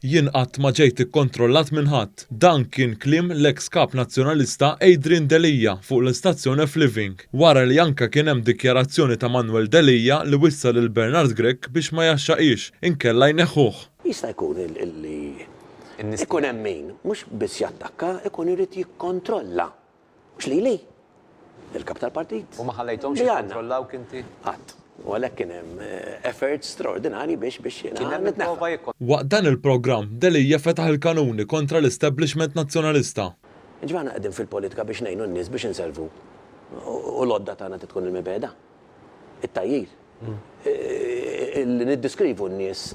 Jien qatt ma ġejt ikkontrollat minn ħadd. Dan kien kliem l-eks Kap Nazzjonalista Adrian Delia fuq l-istazzjon F-Living, wara li anke kien hemm dikjarazzjoni ta' Manuel Delia li wissa lil Bernard Grech biex ma jaxxaqhiex, inkella jneħħuh. Jista' jkun li ikun hemm min, mhux biss jattakka, ikun irid jikkontrolla. Mhux lili, lill-Kap tal-Partit. U ma ħallejthomx jikkontrollawk inti? Qatt. U għalhekk kien hemm efforts straordinarji biex biex jiena nitneħħa. Waqt dan il-programm, Delia fetaħ il-kanuni kontra l-establishment Nazzjonalista. Jiġifieri aħna qegħdin fil-politika biex ngħinu n-nies biex inselvu u l-għodda tagħna trid tkun il-mibegħda. it-tgħajjir, li niddiskrivu n-nies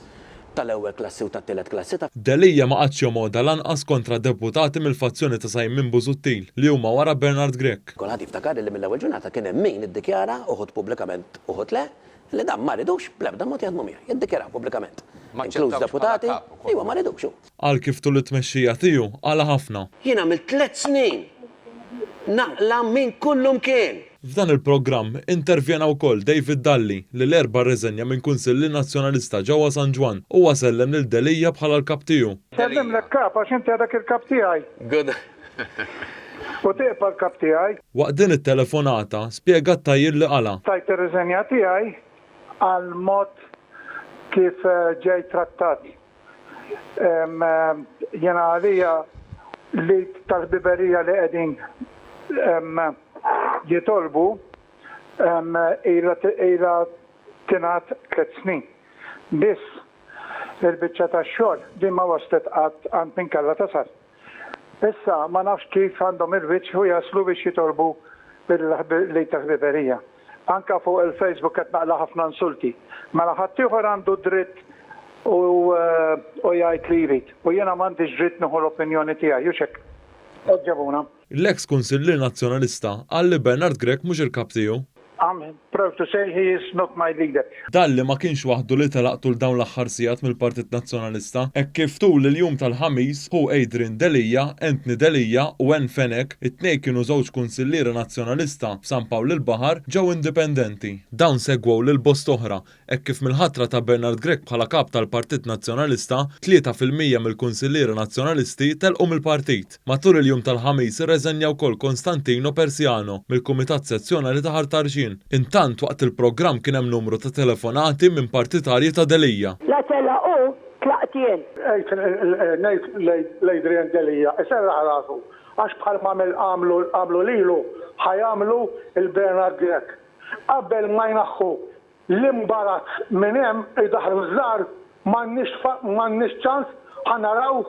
tal-ewwel klassi u tat-tielet klassi. Delia ma qagħadx jomgħodha lanqas kontra deputati mill-fazzjoni ta' Simon Busuttil li huma wara Bernard Grech. Kulħadd jiftakar li mill-ewwel ġurnata kien hemm min iddikjara, uħud pubblikament uħud le, li dan ma ridux bl-ebda mod jaħdmu miegħi. Iddikjaraw pubblikament, inkluż deputati, li huma ma ridux. Qal kif tul it-tmexxija tiegħu qala ħafna. Jien għamilt tliet snin naqla minn kullimkien. F'dan il-programm intervjena wkoll David Dalli li l-Erbgħa rriżenja minn Kunsilli Nazzjonalista ġewwa San Ġwann. Huwa sellem lil Delia bħala l-Kap tiegħu. Nsellimlek Kap għax inti għadek il-Kap tiegħi. Good. U tibqa' l-Kap tiegħi. Waqt din it-telefonata spjega t-tgħajjir li qala. Tajt ir-riżenja tiegħi għall-mod kif ġejt trattat. Jiena għalija l-Għid tal-Ħbiberija li qegħdin jitolbu ilha tingħad tliet snin biss. Il-biċċa tax-xogħol din ma waslet qatt għand min kellha tasal. Issa ma nafx kif għandhom il-wiċċ u jaslu biex jitolbu l-Għid tal-Ħbiberija. Anke fuq il-Facebook qed naqla' ħafna insulti. Mela ħaddieħor għandu d-dritt u jgħid li jrid u jiena m'għandix dritt nieħu l-opinjoni tiegħi, hux hekk? Għeġġebuna. L-eks Kunsillier Nazzjonalista qal li Bernard Grech mhux il-kap tiegħu. I'm proud to say he is not my leader. Dalli ma kienx waħdu li telaq tul dawn l-aħħar sigħat mill-Partit Nazzjonalista hekk kif tul il-jum tal-Ħamis ħu Adrian Delia, Anthony Delia u Anne Fenech, it-tnejn kienu żewġ Kunsillieri Nazzjonalista f'San Pawl il-Baħar, ġew indipendenti. Dawn segwew lil bost oħra Hekk kif mill-ħatra ta' Bernard Grech bħala Kap tal-Partit Nazzjonalista, tlieta fil-mija mill-Kunsilliera Nazzjonalisti telqu mill-Partit. Matul il-jum tal-Ħamis irreżenja wkoll Konstantino Persiano mill-Kumitat Sezzjonali ta' Ħal Tarxien. Intant waqt il-programm kien hemm numru ta' telefonati minn partitarji ta' Delia. La telaq hu, tlaqt jien. Għidt ngħid lil Adrian Delia iserraħ rasu għax bħalma għamlu lilu ħa jagħmlu 'l Bernard Grech. Qabel ma jnaħħu l-imbarazz minn hemm idaħħlu ż-żgħar m'għandniex ċans ħa naraw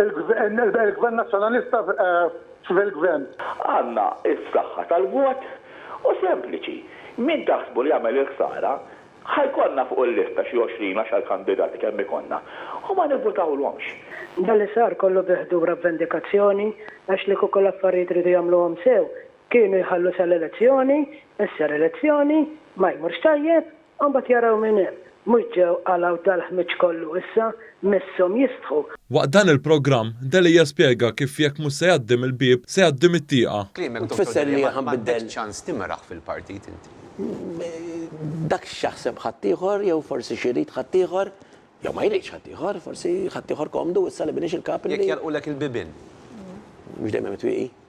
il-Gvern Nazzjonalista fil-Gvern. Għandna s-saħħa tal-vot u sempliċi, min taħsbu li jagħmel il-ħsara ħa jkollna fuq il-lista xi għoxrin għaxar kandidati kemm ikollna u ma nivvutawlhomx. Dan li sar kollu bi ħdur avvendikazzjoni għax li kieku l-affarijiet riedu jagħmluhom sew Kienu jħallu sal-elezzjoni, issa l-elezzjoni, ma jmurx tajjeb, u mbagħad jaraw minn hemm. Mhux ġew qalgħu dal-ħmieġ kollu issa, misshom jistħu. Waqt dan il-programm, Delia spjega kif jekk mhux se jgħaddi mill-bieb, se jgħaddi mit-tieqa. Kliemek Dottor Delia, ma għandekx ċans timraħ fil-partit inti. Dak x'jaħseb ħaddieħor jew forsi x'irid ħaddieħor, jew ma jridx ħaddieħor, forsi ħaddieħor komdu issa li m'iniex il-kap li. Jekk jagħlqulek il-bibien. Mhux dejjem hemm it-twieqi.